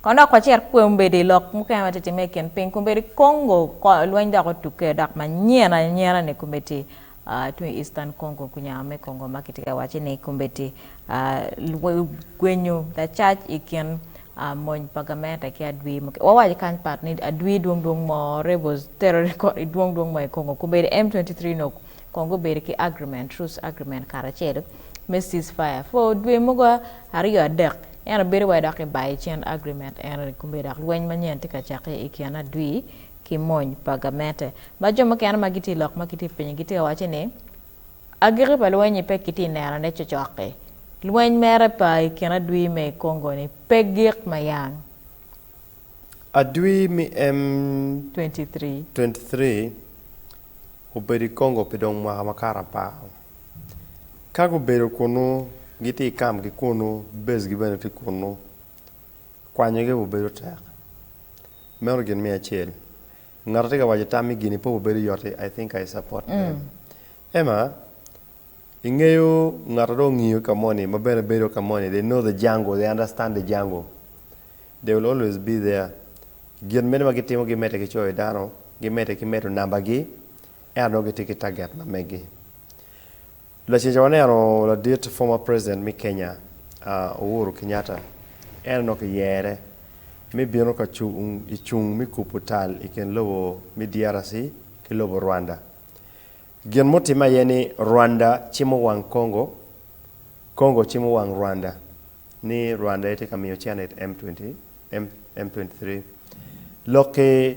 Kono dok wacit kwe ombedi i lok mukene ma tye timme i kin piny kombedi Congo kor lweny dok otukke dok manyen anyena ni kombedi tung i Eastern Congo kunyao me Congo ma kitye ka waci ni kombedi gwenyo lacac i kin mony pa gamente ki adwi mukene wawaci kany pat ni adwi dwong dwong mo rebels terrorist kor dwong dwong mo i Congo kombedi M23 nok kong gubedo ki agreement, truce agreement karacel me cease fire for dwe mogo aryo adek ento bedo wai dok kibayo i cen agreement eno ni kome dok lweny manyen tye ka cakke i kin adwir ki mony pa gamente ma jo mukene ma gitye lok ma gitye pinyi gitye ka waco ni agiki pa lweny-nyi pe kitye neno ne cocok-ki lweny mere pa i kin adwir me i Congo-ni pe gik ma yang. Adwi mi M23 obedo i Congo pi dong mwaka makato apar. Ka gubedo kunnu, gitye i kampgi kunnu, bezgi bene tye kunnu. Kwanyogi aye bedo tek. Meno gin me acel. Ngat atye ka waco tam me gini pe obedo yot-ti, I think I support them. Emma, ingeyo ngat ma dong ongiyo ka moni ma bene bedo ka moni, they know the jungle, they understand the jungle. They will always be there. Gin meno ma gitimo gimedde ki coyo dano, gimedde ki medo nambagi, ento nongo gitye ki taget ma meggi. Laceca waneno ladit former president me Kenya Uhuru Kenyatta, en onongo kiyere me bino ka cung i cung me kubo tal i kin lobo me DRC ki lobo Rwanda. Gin mutimme aye ni Rwanda cimo wang Congo, Congo cimo wang Rwanda. ni Rwanda aye tye ka miyo cene it M23. Lok ki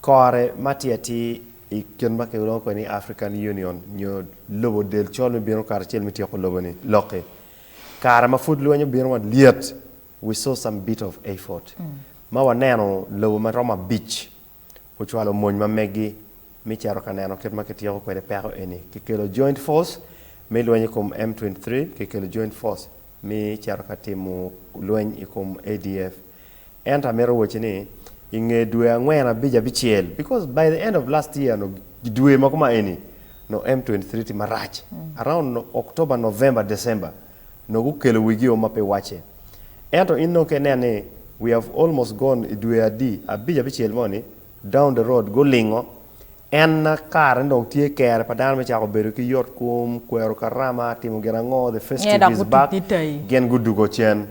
kore ma tye atir i kit ma kilwongo kwede ni African Union nyo lobo del col me bino kato acel me tyeko lobo-ni, lok ki kare ma pud lweny obino ma lyet, we saw some bit of effort, ma waneno lobo ma romo abic ocwalo mony ma meggi me cito ka neno kit ma kityeko kwede peko eni. Kikelo Joint Force me lweny i kom M23, kikelo Joint Force me cito ka timo lweny i kom ADF. Ento amito wacci ni i nge dwe angwen abic abicel, because by the end of last year nyo dwe ma kuma eni nyo M23 tye marac, around October, November, December, nongo gukelo wigi o ma pe wacce. Ento in nongo ka ineno ni we have almost gone i dwe adi, abic, abicel mo ni, down the road, gulingo, en na kare ni dong tye kere pa dano me cako bedo ki yot kom, kwero karama, timo gin ango, the first two days back, gin gudugo cen.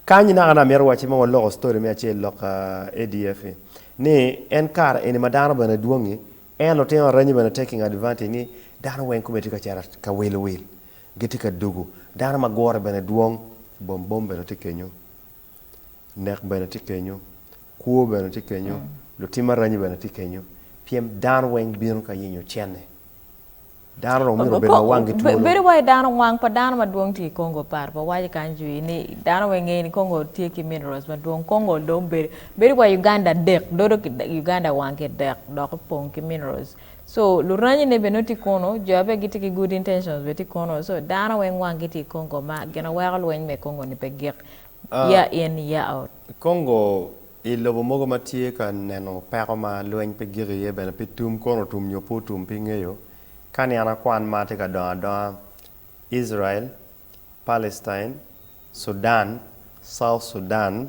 Kany-nyi naka ni amito wacci ma waloko story me acel lok ADF-fi, ni en kare eni ma dano bene dwongi, en lutino aranyi bene taking advantage ni dano weng kome tye ka cito ka wil wil. Gitye ka dugu. Dano ma gure bene dwong. Bom bom bene tye kenyo. Nek bene tye kenyo. Kwo bene tye kenyo. Lutim aranyi bene tye kenyo. Pien dano weng bino ka yenyo cene. Dano dong myero obed ma wangi twolo. Bedo wai dano wang pa dano madwong tye i Congo oparo pa waco kany jui ni dano weng ngeyo ni Congo tye ki minerals madwong. Congo dong bedo wai Uganda dek. Dodo ki Uganda wang ki dek dok opong ki minerals. So luranyi ne bene nongo tye kono, jo aye pe gitye ki good intentions bene tye kono, so dano weng wang gi tye i Congo ma gin aye weko lweny me Congo ni pe gik year in year out. Congo i lobo mogo ma tye ka neno peko ma lweny pe gik iye bene pi tum kono otum nyo pe otum pe ingeyo, ka niang akwan mar tye ka dongo adonga, Israel, Palestine, Sudan, South Sudan,